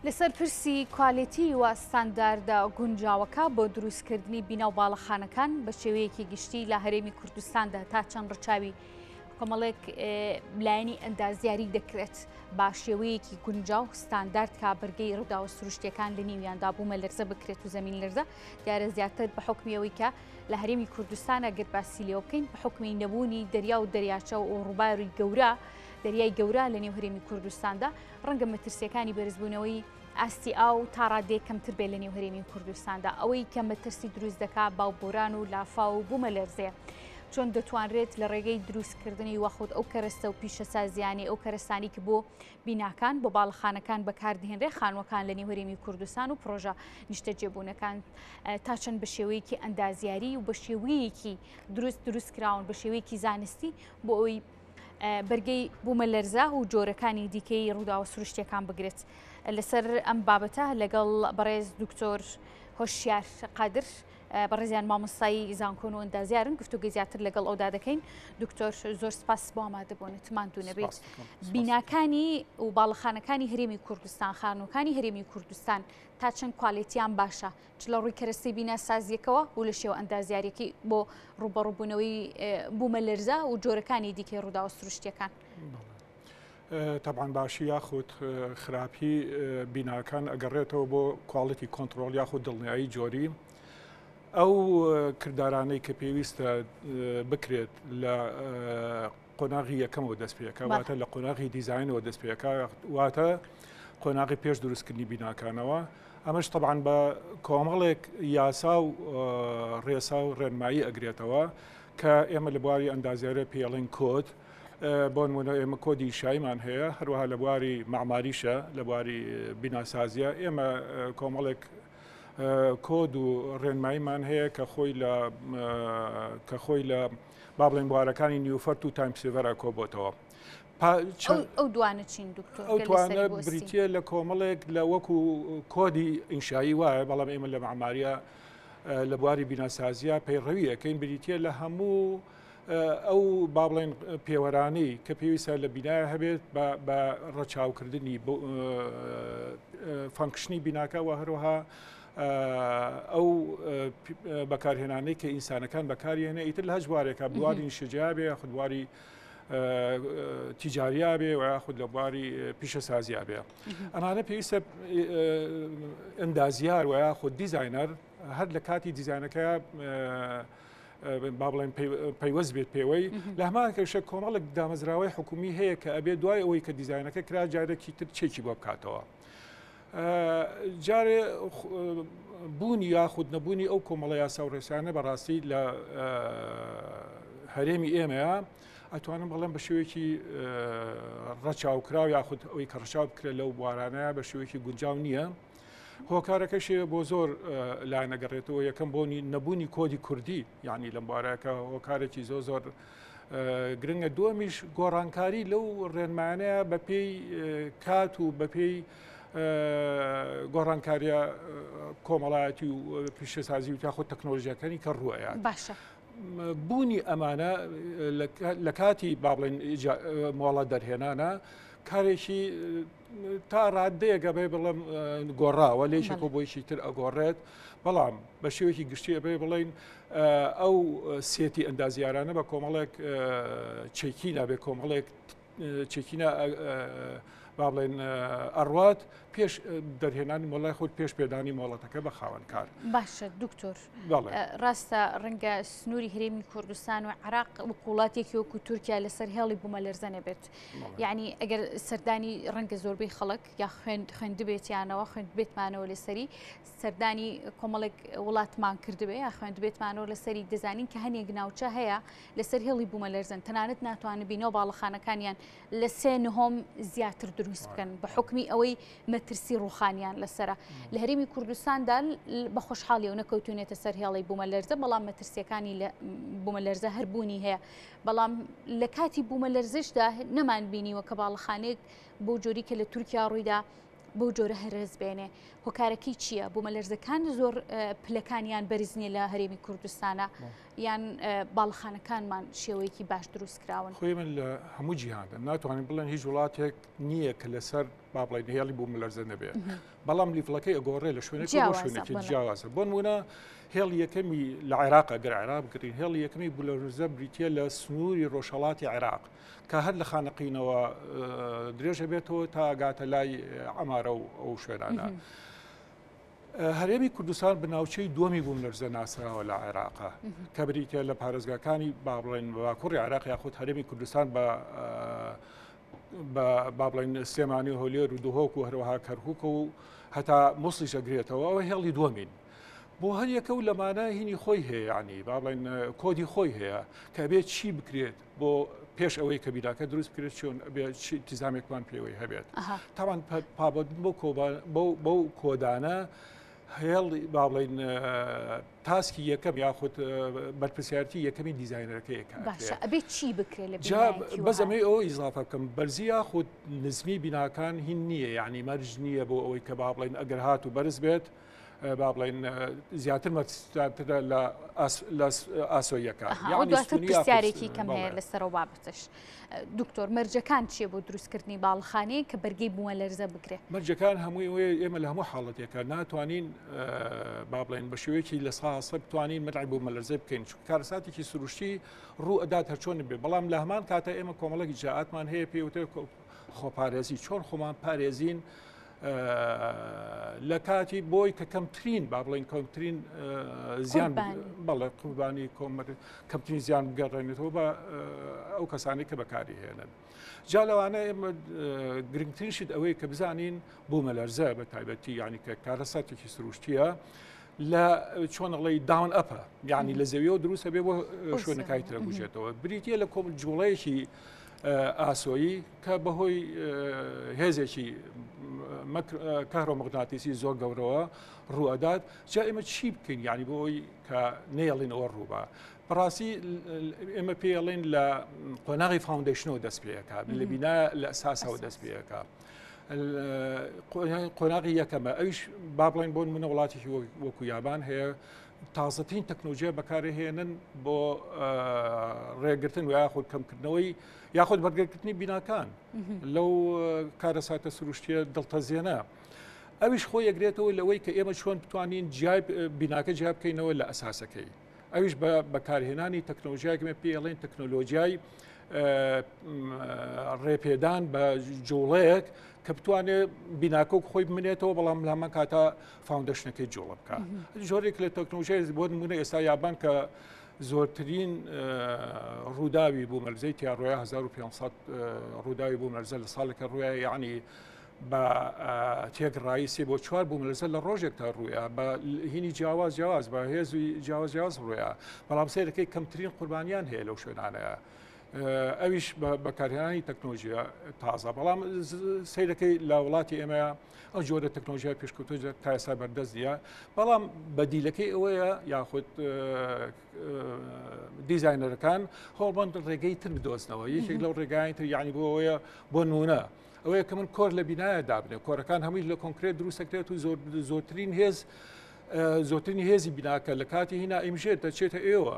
لەسەر پرسی کوالێتی و ستانداردە گونجاوەکە بۆ دروستکردنی بینا و باڵەخانەکان بە شێوەیەکی گشتی لە هەرێمی کوردستاندا تا چەند ڕچاوی کۆمەڵێک لایەنی ئەندازیاری دەکرێت با شێوەیەکی گونجا و ستاندارد کا بەرگەی ڕووداوە سروشتەکان لە نیویاندا بوومە لەرزە بکرێت و زمین لەرزە دیارە زیاتر بە حکمیەوەی کە لە هەرێمی کوردستانە گەر باسی لێ بکەین بە حکمی نەبوونی دەریا و دەریاچە و ڕووباری گەورە دەریای گەورە لە نێو هەرێمی کوردستاندا ڕەنگە مەترسیەکانی بەرزبوونەوەی ئاستی ئاو تا ڕادێ کەمتر بێت لە نێو هەرێمی کوردستاندا ئەوەی کە مەترسی دروست دەکا باو بۆران و لافا و بوومە لەرزێ چۆن دەتوانرێت لە ڕێگەی دروستکردنی وەخود ئەو کەرەستە و پیشەسازیانی ئەو کەرەستانی کە بۆ بیناکان بۆ باڵەخانەکان بەکاردهێنرێ خانوەکان لە نێوەرێمی کوردستان و پرۆژە نیشتەجێبوونەکان تا چەند بە شێوەیەکی ئەندازیاری و بە شێوەیەکی دروست دروست کراون بە شێوەیەکی زانستی بۆ ئەوی بەرگەی بوومەلەرزە و جۆرەکانی دیکەی ڕووداوە سروشتیەکان بگرێت لەسەر ئەم بابەتە لەگەڵ بەڕێز دکتۆر هۆشیار قادر بەڕێزیان مامۆستایی زانکۆن و ئەندازیارن گفتوگە زیاتر لەگەڵ ئەودا دەکەین دکتۆر زۆر سپاس بۆ ئامادەبوون تماندو نەبێت بیناکانی و باڵەخانەکانی هەرێمی کوردستان خانوەکانی هەرێمی کوردستان تا چەند کوالێتیان باشە چ لە ڕووی کەرەستەی بیناسازییەکەوە و لە شێوە ئەندازیارەکەی بۆ ڕوبەڕوبوونەوەی بوومە لەرزە و جۆرەکانی دیکەی ڕووداوە سروشتیەکان. تابان باشی یاخود خراپی بیناکان ئەگەڕێتەوە بۆ کوالڵەتی کۆنتترۆل یاخود دڵنیایی جۆری ئەو کردارانەی کە پێویستە بکرێت لە قۆناغی یەکەمەوە دەست پێکا واتە لە قۆناغی دیزینەوە دەست پێکا واتە قۆناغی پێش دروستکردنی بیناکانەوە ئەمەش طبعاان بە کۆمەڵێک یاسا و ڕێسا و ڕێنمایی ئەگرێتەوە کە ئێمە لە بواری ئەندازیارە پێڵین کۆت بۆ نمونە ئێمە کۆدی شایمان هەیە هەروەها لە بواری معماریشە لە بواری بیناسازیە ئێمە کۆمەڵێک کۆد و ڕێنماییمان هەیە کە خۆی لە کە خۆی لە با بڵێن بوارەکانی نیوفەرت و تایم سیڤەر ئەکۆ بۆتەوە. ئەو دوانە چین دکتۆر ئەو توانە بریتە لە کۆمەڵێک لە وەکو کۆدی ئینشایی وایە بەڵام ئێمە لە معماریە لە بواری بیناسازیە پەیڕەویەکەین بریتە لە هەموو ئەو با بڵێن پێوەرانەی کە پێویستە لە بینایە هەبێت بە ڕەچاوکردنی فەنکشنی بیناکە و هەروەها ئەو بەکارهێنانەی کە ئینسانەکان بەکاریێنە ئیتر لە هەج بوارێکە بواری نیشەجیابێ خودواری تیجاریابێ و یاخود لە بواری پیشەسازیابێ ئەمانە پێویستە ئەندازیار و یاخود دیزینەر هەر لە کاتی دیزانەکە با بڵێن پەیوەست بێت پێوەی لە هەمان کەشە کۆمەڵک دامەزراوەی حکومی هەیە کە ئەبێ دوای ئەوەی کە دیزانەکە کرا جارێکی تر چێکی بۆ بکاتەوە. جارێ بوونی یاخود نەبوونی ئەو کۆمەڵە یاسا و ڕێسانە بەڕاستی لە هەرێمی ئێمەیە ئەتوانم بەڵێن بە شێوەیەکی ڕەچاوکراو یاخود ئەوی کە ڕچاو بکرێت لەو بوارانە بە شێوەیەکی گونجاو نییە. هۆکارەکەشی بۆ زۆر لاەنەگەڕێتەوە یەکەم بۆنی نەبوونی کۆدی کوردی یعنی لەم بارەکە هۆکارێکی زۆ زۆر گرنگە دووەمیش گۆڕانکاری لەو ڕێنمایانەیە بە پێی کات و بە پێی گۆڕانکاریە کۆمەڵایەتی و پیشەسازی و تاخۆ تەکنۆلژیەکانی کە ڕوەیە باشە بوونی ئەمانە لە کاتی بابڵێن مۆڵە دەرهێنانە کارێکی تا ڕادەیەک ئەبێ بڵم گۆڕاوە لێشێک بۆ بۆیشی تر ئەگۆڕێت بەڵام بە شێوەیەکی گشتی ئەبێ بڵین ئەو سێتی ئەندازیارانە بە کۆمەڵێک چێکی نابێ کۆمەڵێک چێکینە با بڵێن ئەڕات پێش دەرهێنانی مۆڵای خۆت پێش پێدانی مۆڵەتەکە بە خاوەنکار باشە دکتۆر ڕاستە ڕەنگە سنووری هەرێمی کوردستان و عراق وقوڵاتێکی وەکو تورکیا لەسەر هێڵی بوومە لەرزەنە بێت یعنی ئەگەر سەردانی ڕەنگە زۆربەی خەڵک یا خوێن خوێندبێتیانەوە خوێندبێتمانەوە لەسەری سەردانی کۆمەڵێک وڵاتمان کردبێ یا خوێندبێتمانەوە لەسەری دەزانین کە هەنێک ناوچە هەیە لەسەر هێڵی بوومە لەرزن تەنانەت ناتوانن بینەوە باڵەخانەکانیان لە سێ نهۆم زیاتر دروست بکەن بە حکمی ئەوەی مەترسی ڕوخانیان لەسرە لە هەرێمی کوردستاندا بە خۆشحاڵی و نەکەوتونێتە سەر هێڵی بوومە لەرزە بەڵام مەترسیەکانی بوومە لەرزە هەربوونی هەیە بەڵام لە کاتی بوومەلەرزەشدا نەمان بینیوە کە باڵەخانێک بۆ جۆری کە لە تورکیا ڕوویدا بەو جۆرە هەرێز بێنێ هۆکارەکەی چییە بۆ مەلەرزەکان زۆر پلەکانیان بەرزنیە لە هەرێمی کوردستانە یان باڵخانەکانمان شێوەیەکی باش دروست کراون خوێمن لە هەموو جیهاندا ناتوانین بڵێن هیچ وڵاتێک نییە کە لەسەر با بڵین هێڵی بوو ملەرزە نەبێ بەڵام لیڤڵەکەی ئەگۆڕێ لە شوێنێک شوێنێکی جیاوازە بۆن ونا هێڵ یەکەمی لە عێراق گەر عێراق بگرین هێڵ یەکەمی بولەرزە بریتە لە سنووری ڕۆژهڵاتی عێراق کە هەر لە خانەقینەوە درێژە بێتەوە تا گاتە لای ئەمارە و ئەو شوێنانە. هەرێمی کوردستان بناوچەی دووەمی بووم لەرزە ناسراوە لە عێراقا کە بریتە لە پارێزگاکانی بابڵێن باکوڕی عراق یاخود هەرێمی کوردستان بە بە با بڵێن سلێمانی و هۆلێر و دهۆک و هەروەها کەرکک و هەتا موسڵیش ئەگرێتەوە ئەوە هێڵی دووەمین بۆ هەر یەکە و لەمانە هینی خۆی هەیە ینی با بڵێن کۆدی خۆی هەیە کە بێت چی بکرێت بۆ پێش ئەوەی کە بیراکە دروست بکرێت چۆن تیزامێکمان پێوەی هەبێت تاوان پابەت بۆ کۆبان بەو کۆدانە هێڵی با بڵێین تاسکی یەکەم یاخود بەرپسیارتی یەکەمی دیزایینەکەیەکەبێت چی بکرێت بەزەمەی ئەو ئیزافە بکەم بەرزی یاخود نزمی بیناکان هین نییە یعنی مەرج نییە بۆ ئەوەی کە با بڵێن ئەگەر هات و بەرز بێت با بڵێن زیاتر مەترە لە ئاسۆیەکە یاخودیارێکی کەم هەیە لەسەرەوە بابتش دکتۆر مەرجەکان چیە بۆ دروستکردنی باڵخانەیە کە بەرگەی بووە لەرزە بگرێت مەرجەکان هەمووی وێ ئێمە لە هەموو حاڵەتێکە ناتوانین با بڵێن بە شێوەیەکی لە ساسە بتوانین مەدای بۆ مەلەرزە بکەین چون کارساتێکی سروشتی ڕوو ئەدات هەرچۆن بێ بەڵام لە هەمان کاتە ئێمە کۆمەڵێکی جااتمان هەیە پێوتە خۆپارێزی چۆن خۆمان پارێزین لە کاتی بۆی کە کەمترین با بڵین کەمترین زیان بەڵێ قوربانی کۆمەر کەمترین زیان گەڕێنێتەوە بە ئەو کەسانی کە بەکاری هێنن جا لەوانە ئێمە گرنگترینشت ئەوەی کە بزانین بۆ مەلەرزە بە تایبەتی یعنی کە کارەساتێکی سروشتیە لە چۆنەڵی داون ئەپە یعنی لە زەویەوە دروستە بێ بۆ شوێنەکای ترە بژێتەوە بریتە لە کۆم جوڵەیەکی ئاسۆیی کە بەهۆی هێزێکی کارۆمەغناتیسی زۆر گەورەوە ڕوئەدات جا ئێمە چی بکەین یعنی بۆ ئەوی کە نێڵین ئەوە ڕووبە بەڕاستی ئێمە پێڵێن لە قۆناغی فاوندشنەوە دەست پێەکە لە بینا لە ئەساسەوە دەست پێەکە. قۆناغی یەکەمە ئەوش با بڵێن بۆن منە وڵاتیشی وەکو یابان هەیە تازەترین تەکنۆلۆژیا بەکارهێنن بۆ ڕێگرتن و یاخود کەمکردنەوەی یاخود بەرگەکردنی بیناکان لەو کارەساتە سروشتیە دڵتەزیێنە. ئەویش خۆ یەگرێتەوە لەوەی کە ئێمە چۆن بتوانین جیای بیناکە جیاب بکەینەوە لە ئەساسەکەی. ئەویش بە بەکارهێنانی تەکنۆلژیاکمە پێڵێن تەکنۆلۆژیای ڕێپێدان بە جوڵەیەک کە بتوانێت بیناکۆک خۆی بمنێتەوە بەڵام لامان کاتە فاوندشنەکەی جوڵە بکە جۆرێک لە تەکنۆژێت بۆ نمونە ئێستا یابان کە زۆرترین ڕووداوی بوو مەرزەی تیا ڕۆە 1500 ڕووداوی بوو مەرزە لە ساڵێکە ڕوایە یعنی بە تێگڕایی سێ بۆ چوار بوو لەسەر لە ڕۆژێک تا ڕوویە بە هینی جیاواز جیاواز بە هێزی جیاواز جیاز ڕوویە بەڵام سێرەکەی کەمترین قوربانیان هەیە لەو شوێنانەیە. ئەویش بەکارهێنانی تەکنۆژیە تازە بەڵام سیرەکەی لە وڵاتی ئێمە ئەو جۆرە تەکنۆژیا پێشکەوتۆ تا ئێستا بەردەست نیە بەڵام بەدیلەکەی ئەوەیە یاخود دیزایینەرەکان هۆڵبند ڕێگەی تر بدۆزنەوە یەکێک لەو ڕێگای تر یعنی بۆەوەیە بۆ نونە. ئەوەیە کە من کۆر لە بینایە دابنێ کۆرەکان هەمووی لە کۆنکرێت دروستەکرێت و زۆرترین هێز زۆرترین هێزی بیناکە لە کاتی هینا ئیمژێت دەچێتە ئێوە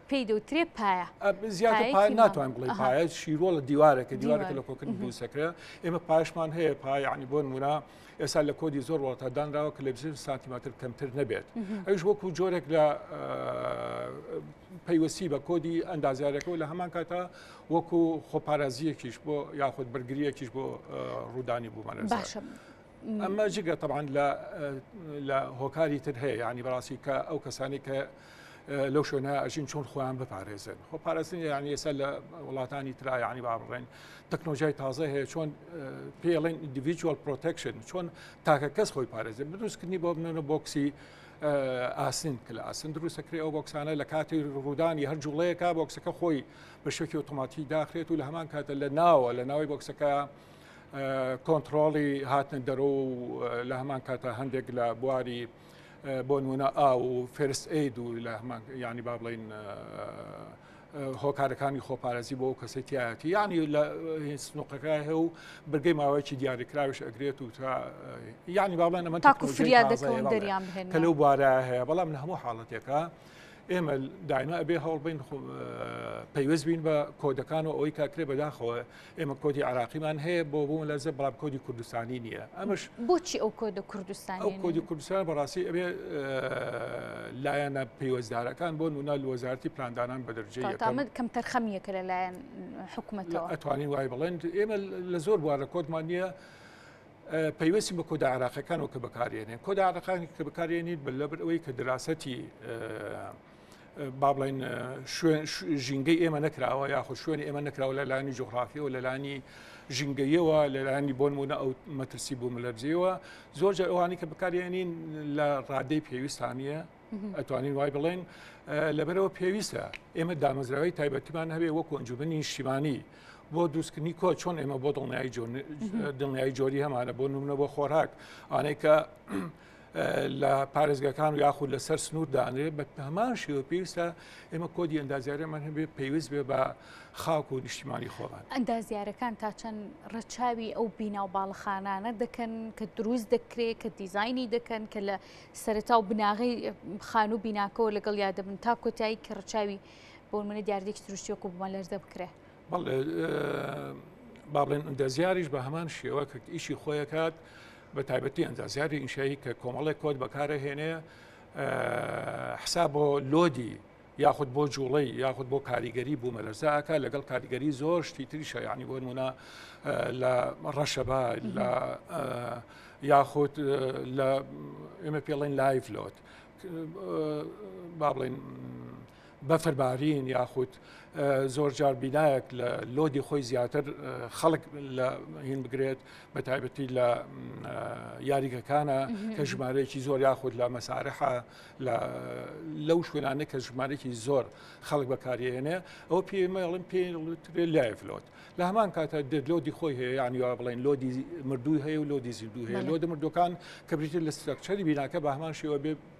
پێی دەوترێ پایە زیاتر پای ناتوان بڵێ پایە شیرۆڵە دیوارەکە دیوارەکە لە کۆکردن دووسەکرە ئێمە پاشمان هەیە پایانی بۆن مورا ئێستا لە کۆدی زۆر وڵاتە دانراوە کە لە بزر سانتیماتر کەمتر نەبێت ئەوش وەکو جۆرێک لە پەیوەستی بە کۆدی ئەندازارەکەەوە لە هەمان کاتا وەکو خۆپارازیەکیش بۆ یاخود بەرگریەکیش بۆ ڕوودانی بوومانە باشە. ئەمە جگە تەبان لە هۆکاری تر هەیە ینی بەڕاستی کە ئەو کەسانی کە لەو شوێنە ئەژین چۆن خۆیان بپارێزن خۆ پارێزن یان ئێستا لە وڵاتانی ترایانی با بڕێن تەکنۆژای تازە هەیە چۆن پێڵێن ئیندیڤیجوال پرۆتەکشن چۆن تاکە کەس خۆی پارێزن بدروستکردنی بۆ بنەوە بۆکسی ئاسن کە لە ئاسن دروستەکرێ ئەو بۆکسانە لە کاتی ڕوودانی هەر جوڵەیەکە بۆکسەکە خۆی بە شوێکی ئۆتۆماتی داخرێت و لە هەمان کاتە لە ناوە لە ناوی بۆکسەکە کۆنتڕۆڵی هاتنە دەرۆ و لە هەمان کاتە هەندێک لە بواری بۆ نمونە ئا و فێرست ئەید و لە هەمان ینی با بڵین هۆکارەکانی خۆپارێزی بۆ کەسی تایەتی ینی لە سنوقەکە هە و برگەی ماوەیەکی دیاریکراوش ئەگرێت و تا ینی با بڵێن ئەمە تاکو فریاد دەکەون دەریان کە لەو بارە هەیە بەڵام لە هەموو حاڵەتێکە ئێمە دایمە ئەبێ هەوڵبین پەیوەست بین بە کۆدەکان و ئەوەی کاکرێ بەداخەوە ئێمە کۆدی عراقیمان هەیە بۆ بووم لەزە بەڵام کۆدی کوردستانی نییە ئەمەش بۆچی ئەو کۆدە کوردستان ئەو کۆدی کوردستان بەڕاستی ئەبێ لایەنە پەیوەزدارەکان بۆ نونا وەزارتی پلاندانان بە دەرجەیە تامد کەم تەرخەمیەکە لە لایەن حکوومەتەوە ئەتوانین وای بڵێن ئێمە لە زۆر بوارە کۆدمان نییە پەیوەستی بە کۆدا عراقەکانەوە کە بەکارێنێن کۆدا عراقانی کە بەکارێنیت بە لەبەر ئەوەی کە دراستی با بڵین شوێن ژینگەی ئێمە نەکراوە یاخود شوێنی ئێمە نەکراوە لە لانی جوغرافیەوە لە لانی ژینگەیەوە لە لانی بۆن بوونە ئەو مەترسی بوو ملەرزیەوە زۆر جار ئەوانی کە بکارێنین لە ڕادەی پێویستانە ئەتوانین وای بڵێن لەبەرەوە پێویستە ئێمە دامەزراوی تایبەتیمان هەبێ وەکو ئەنجومنی نیشتیمانی بۆ دووسکردنی کۆ چۆن ئێمە بۆ دڵنیایی دڵنیایی جۆری هەمانە بۆ نمونە بۆ خۆراک ئانەی کە لە پارێزگەکان و یاخود لەسەر سنوور دانرێت بە هەمان شێوە پێویستە ئێمە کۆدی ئەندازیارەمان هەبێ پێویست بێ بە خاک و نیشتیمانی خۆمان ئەندازیارەکان تا چەند ڕەچاوی ئەو بینا و باڵخانانە دەکەن کە دروست دەکرێت کە دیزایانی دەکەن کە لە سەرتا و بناغی خان و بیناکەەوە لەگەڵ یادەبن تا کۆتایی کە ڕچاوی بۆ منە دیاردێک سروشتیۆک و بمە لەرزە بکرێت. بەڵێ با بڵێن ئەندازیاریش بە هەمان شێوە کە ئیشی خۆیەکات بە تایبەتی ئەندازیاری ئینشایی کە کۆمەڵێک کۆت بەکارەهێنێ حسا بۆ لۆدی یاخود بۆ جوڵەی یاخود بۆ کاریگەری بوو مەلەرزاکە لەگەڵ کاریگەری زۆر شتی تری شایانی بۆ نمونە لە ڕەشەبا لە یاخود لە ئێمە پێڵێن لایڤ لۆت با بڵێن بەفربارین یاخود زۆرجار بینایەک لە لۆدی خۆی زیاتر خەڵک لە هین بگرێت بە تایبەتی لە یاریگەکانە کە ژمارەیەکی زۆر یاخود لە مەسارحە لەو شوێنانە کە ژمارەێکی زۆر خەڵک بەکارێنێ ئەو پێمەڵم پێ لایف لۆت لە هەمان کاتە دێت لۆدی خۆی هەیە یانیوا بڵێن لۆدی مردووی هەیە و لۆدی زیندوو هەیە لۆدە مردوەکان کە بریتر لە سترەکچەری بیناکە بە هەمان شێوە بێ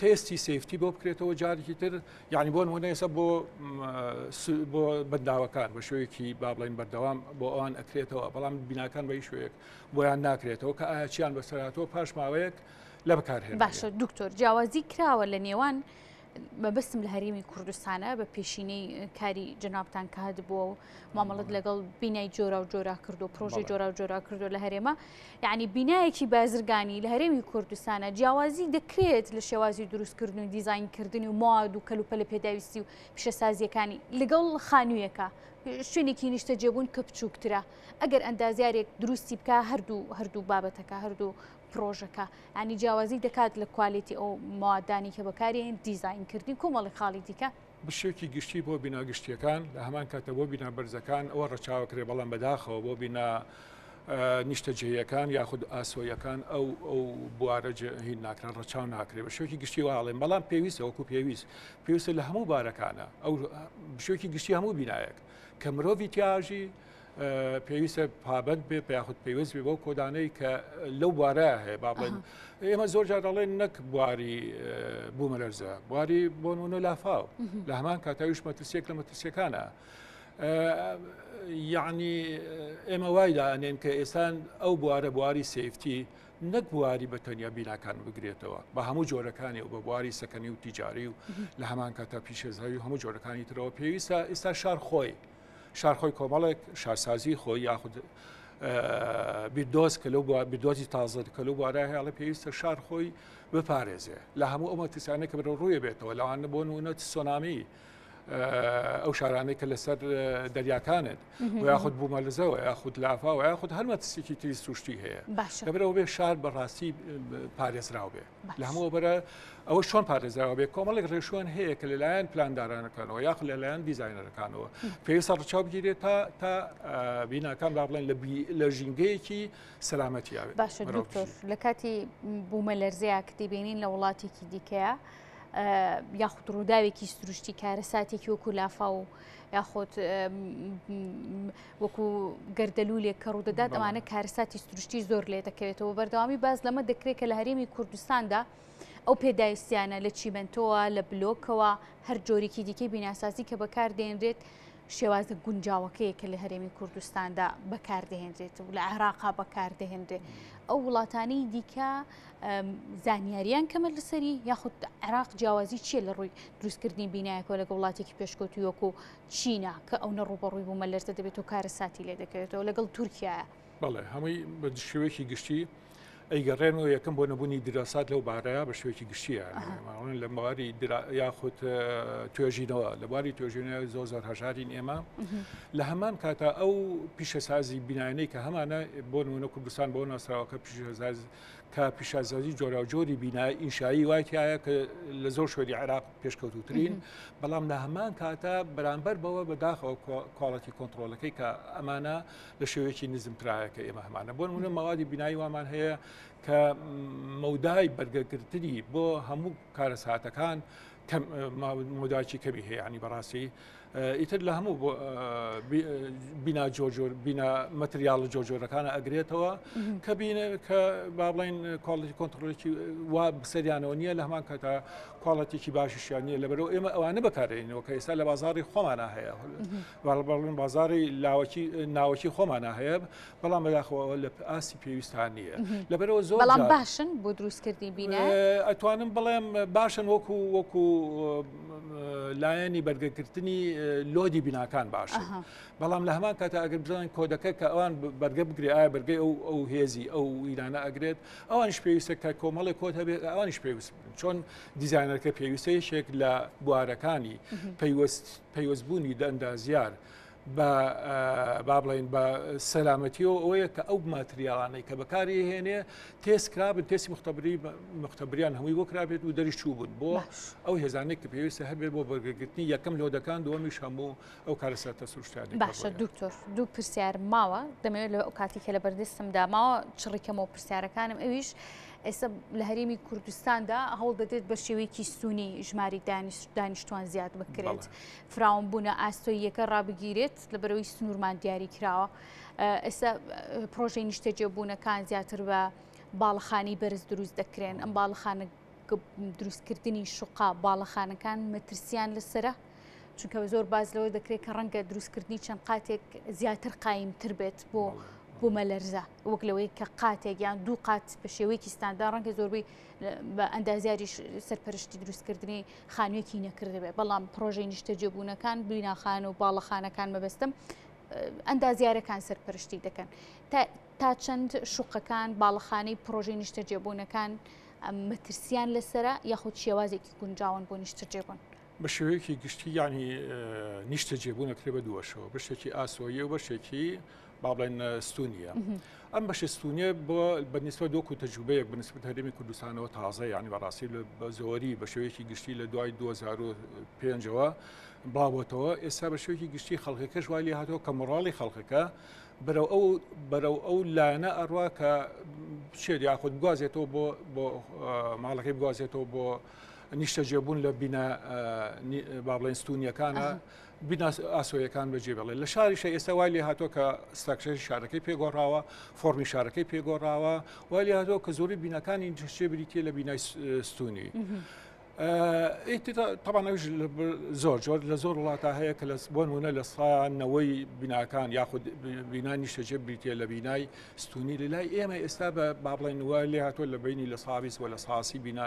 تێستی سفتی بۆ بکرێتەوە جارێکی تر یعنی بۆن هونەیەسە بۆ بۆ بەنداوەکان بە شوێکی با بڵین بەردەوام بۆ ئەوان ئەکرێتەوە بەڵام بیناکان بە شوێک بۆیان ناکرێتەوە کە ئاچیان بەسەراتەوە پاش ماوەیەک لە بەکارهێن باشە دکتۆر جیاوازی کراوە لە نێوان مەبستم لە هەرێمی کوردستانە بە پێشینەی کاری جنابان کات بووە و مامەڵت لەگەڵ بینای جۆرا و جۆرا کردو پرۆژی جۆرا و جۆرا کردو لە هەرێمە یعنی بینایەکی بازرگانی لە هەرێمی کوردستانە جیاوازی دەکرێت لە شێوازی دروستکردن و دیزینکردنی و مواد و کەلوپە لە پێداویستی و پیشەسازیەکانی لەگەڵ خانوویەکە شوێنێکی نیشتە جێبوون کە بچووکترە ئەگەر ئەندازیارێک دروستی بکە هەردوو هەردوو بابەتەکە هەردوو پرۆژەکە ئەنی جیاوازی دەکات لە کوالێتی ئەو موادانی کە بەکارێن دیزینکردنی کۆمەڵی خاڵی دیکە بشێکی گشتی بۆ بینا گشتییەکان، لە هەمان کاتدا بۆ بینا بەرزەکان ئەوە ڕەچاوە کرێ، بەڵام بەداخەوە بۆ بینا نیشتەجێیەکان یاخود ئاسۆیەکان ئەو ئەو بوارە هین ناکران ڕەچاو ناکرێت بە شوێکی گشتی واڵێن بەڵام پێویستە وەکو پێویست پێویستە لە هەموو بارەکانە ئەو شوێکی گشتی هەموو بینایەک کە مرۆڤی تیاژی پێویستە پابەت بێ پیاخود پێویست بێ بۆ کۆدانەی کە لەو بوارە هەیە با بڵێن ئێمە زۆر جار دەڵێن نەک بواری بوومەلەرزە بواری بۆنمونە لافاو لە هەمان کاتاویش مەترسێک لە مەترسیەکانە. یعنی ئێمە وای دانێن کە ئێسان ئەو بوارە بواری سیفتی نەک بواری بە تەنیا بیناکان بگرێتەوە بە هەموو جۆرەکانی و بە بواری سەکەنی و تیجاری و لە هەمان کاتا پیشێزاوی هەموو جۆرەکانی ترەوە پێویستە ئێستا شار خۆی شار خۆی کۆمەڵێک شارسازی خۆی یاخود بیردۆز کە لەو بیردۆزی تازە کە لەو بوارە هێڵە پێویستە شار خۆی بپارێزێ لە هەموو ئەو مەترسیانە کە بەرە ڕوویە بێتەوە لەوان بۆ نونە سۆنامی ئەو شارانەی کە لەسەر دەریاکانت یاخود بوومە لەزەوە یاخود لافاوە یاخود هەر مەترسێکی تری سروشتی هەیە لەبرەوە بێ شار بەڕاستی پارێزراو بێ. لە هەموو بەرە ئەوە چۆن پارێزراوە بێ کۆمەڵێک ڕێشوان هەیە کە لەلایەن پلاندارانەکانەوە یاخ لەلایەن دیزایینەرەکانەوە پێویستە ڕچاو بگیرێت تا تا بیناکان با بڵێن لە ژینگەیەکی سەلامەتیاوێ باشە دکتۆر لە کاتی بوومە لەرزەیە کە دەبێنین لە وڵاتێکی دیکەیە یاخود ڕووداوێکی سروشتی کارەساتێکی وەکو لافا و یاخود وەکو گەردەلوولێک کە ڕوودەدات ئەوانە کارەساتی سروشتی زۆر لێ دەکەوێتەوە بەردەوامی باز لەمە دەکرێت کە لە هەرێمی کوردستاندا ئەو پێداویستیانە لە چیمەنتۆوە لە بلۆکەوە هەر جۆرێکی دیکەی بیناسازی کە بەکاردێنرێت شێوازە گونجاوەکەیە کە لە هەرێمی کوردستاندا بەکاردەهێنرێت و لە عێراقا بەکاردەهێنرێت ئەو وڵاتانی دیکە زانیاریان کەمە لەسەری یاخود عراق جیاوازی چیە لە ڕووی دروستکردنی بینایەکەوە لەگە وڵاتێکی پێشکەوتویۆک و چینە کە ئەونە ڕووبەڕووی بوومە لەرزە دەبێت و کارەساتی لێ دەکەوێتەوە لەگەڵ تورکیایە. بەڵێ هەمووی بە شێوەیەکی گشتی ئەیگەڕێنەوە یەکەم بۆ نەبوونی دراسات لەو بارەیە بە شێوەیەکی گشتیە ماڵن لە مەواری یاخود توێژینەوە لە باری توێژینە زۆر زۆر هەژارین ئێمە لە هەمان کاتە ئەو پیشەسازی بینانەی کە هەمانە بۆ نمونە کوردستان بۆ ناسراوەکە پیشەساز کە پیشەسازی جۆراوجۆری بینای ئینشایی وایتیایە کە لە زۆر شوێنی عراق پێشکەوتوترین بەڵام لە هەمان کاتە بەرامبەر بەوە بەداخەوە کواڵەتی کۆنتترۆلەکەی کە ئەمانە لە شێوەیەکی نزمترایەکە ئێمە هەمانە بۆ منە مەوادی بینایی وامان هەیە کە مەودای بەرگەگرتنی بۆ هەموو کارەساتەکان مداچی کەمی هەیەنی بەڕاستی ئیتر لە هەموو بینا جۆجۆر بینا مەتریاڵە جۆجۆرەکانە ئەگرێتەوە کە بینە کە با بڵین کۆڵی کۆنتترۆلێکی وا بسەریانەوە نییە لە هەمان کەتا کوڵەتێکی باشیشیان نیە لە بەرەوە ئێمە ئەوانە بەکارێنەوە کە ئێستا لە بازاری خۆمانە هەیە باڵبڵین بازاری لاوەکی ناوەکی خۆمانە هەیە بەڵام بەداخەوە ئەوە لە ئاستی پێویستان نییە لەبەرەوە زۆر بەڵام باشن بۆ دروستکردنی بینە ئەتوانم بڵێم باشن وەکو وەکو لایەنی بەرگەکردنی لۆدی بیناکان باشە بەڵام لە هەمان کاتە ئەگەر بزانین کۆدەکە کە ئەوان بەرگە بگرێ ئایا بەرگەی ئەو ئەو هێزی ئەو ویرانە ئەگرێت ئەوانش پێویستە کە کۆمەڵی کۆت هەبێت ئەوانش پێویست چۆن دیزانەرەکە پێویستە یەکێک لە بوارەکانی پەیوەست پەیوەستبوونی دەندازیار. بە با بڵین بە سەلامەتیەوە ئەوەیە کە ئەو ماتریاڵانەی کە بەکاری هێنێ تێست کرابن تێسی مختبری مختبریان هەمووی بۆ کرابێت و دەری چوو بوون بۆ ئەو هێزانێک کە پێویستە هەبێت بۆ بەرگرتنی یەکەم لۆدەکان دووەمیش هەموو ئەو کارە ساتە سروشتیان باشە دکتۆر دوو پرسیار ماوە دەمەوێت لە ئەو کاتی کە لە بەردەستم داماوە چڕیکەمەوە پرسیارەکانم ئەویش ئێستا لە هەرێمی کوردستاندا هەوڵ دەدرێت بە شێوەیەکی سوونی ژماری دانیشتوان زیاد بکرێت فراوانبوونە ئاستۆییەکە ڕابگیرێت لە بەرەوەی سنوورمان دیاری کراوە ئێستا پرۆژەی نیشتەجێبوونەکان زیاتر بە باڵخانی بەرز دروست دەکرێن ئەم باڵخانە دروستکردنی شوقا باڵەخانەکان مەترسیان لەسرە چونکە زۆر باز لەوە دەکرێت کە ڕەنگە دروستکردنی چەند قاتێک زیاتر قایمتر بێت بۆ بوومە لەرزە وەک لەوەی کە قاتێک یان دوو قات بە شێوەیەکی ستاندا ڕەنگە زۆربەی بە ئەندازیاری سەرپەرشتی دروستکردنی خانوویەکی نەکردبێ بەڵام پرۆژەی نیشتەجێبوونەکان بیناخان و باڵەخانەکان مەبەستم ئەندازیارەکان سەرپەرشتی دەکەن تا چەند شوقەکان باڵەخانەی پرۆژەی نیشتەجێبوونەکان مەترسیان لەسرە یاخود شێوازێکی گونجاون بۆ نیشتەجێبوون بە شێوەیەکی گشتی ینی نیشتە جێبوونەکرێ بە دووەشەوە بەشێکی ئاسۆیە و بەشێکی با بڵێن ستونیە ئەم بەشە ستونیە بۆ بەنیسبە دۆک و تەجوبەیەک بنسبت هەرێمی کوردستانەوە تازە یانی بەڕاستی لە بە زۆری بە شێوەیەکی گشتی لە دوای 2005ەوە باوەتەوە ئێستا بە شێوەیەکی گشتی خەڵکەکەش وای لێ هاتەوە کە مۆڕاڵی خەڵکەکە بەرەو ئەو بەرەو ئەو لایەنە ئەڕوا کە بچێت یاخود گوازێتەوە بۆ بۆ ماڵەکەی بگوازێتەوە بۆ نیشتەجێبوون لە بینە بابلین ستونیەکانە بینە ئاسۆیەکان بەجێ بێڵێت لە شاریشە ئێستا وای لێ هاتووە کە ستراکشەری شارەکەی پێگۆڕاوە فۆرمی شارەکەی پێگۆڕاوە وای لێ هاتووە کە زۆری بینەکانی جشتێ بریتە لە بینای ستونی. تەبانەویش زۆر جۆر لە زۆر وڵاتە هەیە کە لە بۆن وونە لە سانەوەی بیناکان یاخود بینا نیشتەجێ بریتە لە بینای ستونی لە لای ئێمە ئێستا بە بابڵێن وە لێ هاتووە لە بینی لە ساویس وە لە ساسی بینا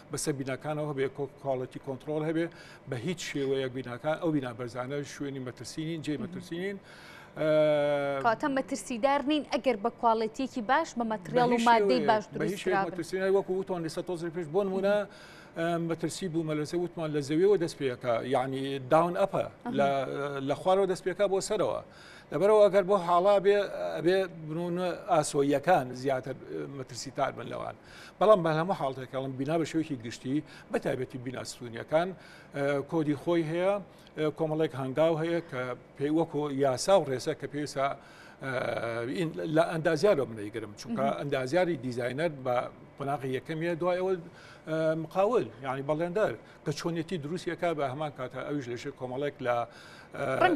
بەسەر بیناکانەوە هەبێ کواڵەتی کۆنتترۆل هەبێ بە هیچ شێوەیەک بیناکان ئەو بینا بەرزانە شوێنی مەترسینین جێ مەترسینین کاتە مەترسیدار نین ئەگەر بە کواڵێتیەکی باش بە مەتریال و مادەی باش دروستراسینای وەکو وتوان لەسە تۆزر پێش بۆن وە مەترسی بوو مەلەسە وتمان لە زەویەوە دەست پێەکە یعنی داون ئەپە لە خوارەوە دەست پێکا بۆ سەرەوە لەبەرەوە ئەگەر بۆ حاڵا بێ ئەبێ بنونە ئاسۆیەکان زیاتر مەترسی تار بن لەوان. بەڵام بە هەموو حاڵتێک کەڵم بینا بە شوێکی گشتی بە تایبەتی بینا ستونیەکان کۆدی خۆی هەیە کۆمەڵێک هەنگاو هەیە کە پێی وەکۆ یاسا و ڕێسە کە پێسا لە ئەندازیار بە منەیگرم چونکە ئەندازیاری دیزینەر بە قۆناغی یەکەمیە دوایەوە مقاول یعنی بەڵێندەر بە چۆنێتی دروستی ئەکا بە هەمان کاتە ئەوش لە ژێر کۆمەڵێک لە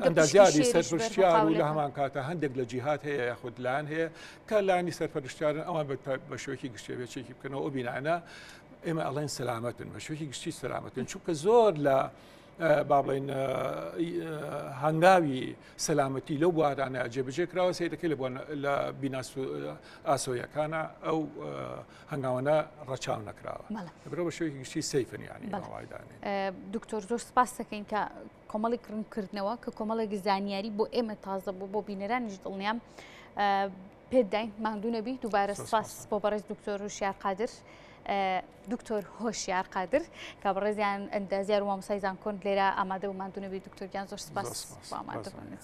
ئەندازیاری سەرپشتیار و لە هەمان کاتە هەندێک لە جیهات هەیە یاخود لاان هەیە کە لانی سەرپەرشتارن ئەوان بە شوێکی گشتێبێچێکی بکەنەوە ئەو بینانە ئێمە ئەڵێن سەلامەتن بە شوێکی گشتی سەلامەتن چونکە زۆر لە با بڵین هەنگاوی سەلامەتی لەو بوارانە جێبجێ کراوە سیرەکەی لە لە بیناس ئاسۆیەکانە ئەو هەنگاوانە ڕەچاو نەکراوە برۆ بە شوێکی گشتی سەیفن یانی دکتۆر زۆر سپاس دەکەین کە کۆمەڵی کڕنکردنەوە کە کۆمەڵێک زانیاری بۆ ئێمە تازە بوو بۆ بینەرانیش دڵنیام پێداین ماندوو نەبی دووبارە سپاس بۆ بەڕێز دکتۆر و شیار قادر. دکتۆر هۆشیار قادر کە بەڕێزیان ئەندازیار وامسای زانکۆن لێرە ئامادە و مادونەبی دکتۆرگیان زۆر سپاس ئامادەبنێت.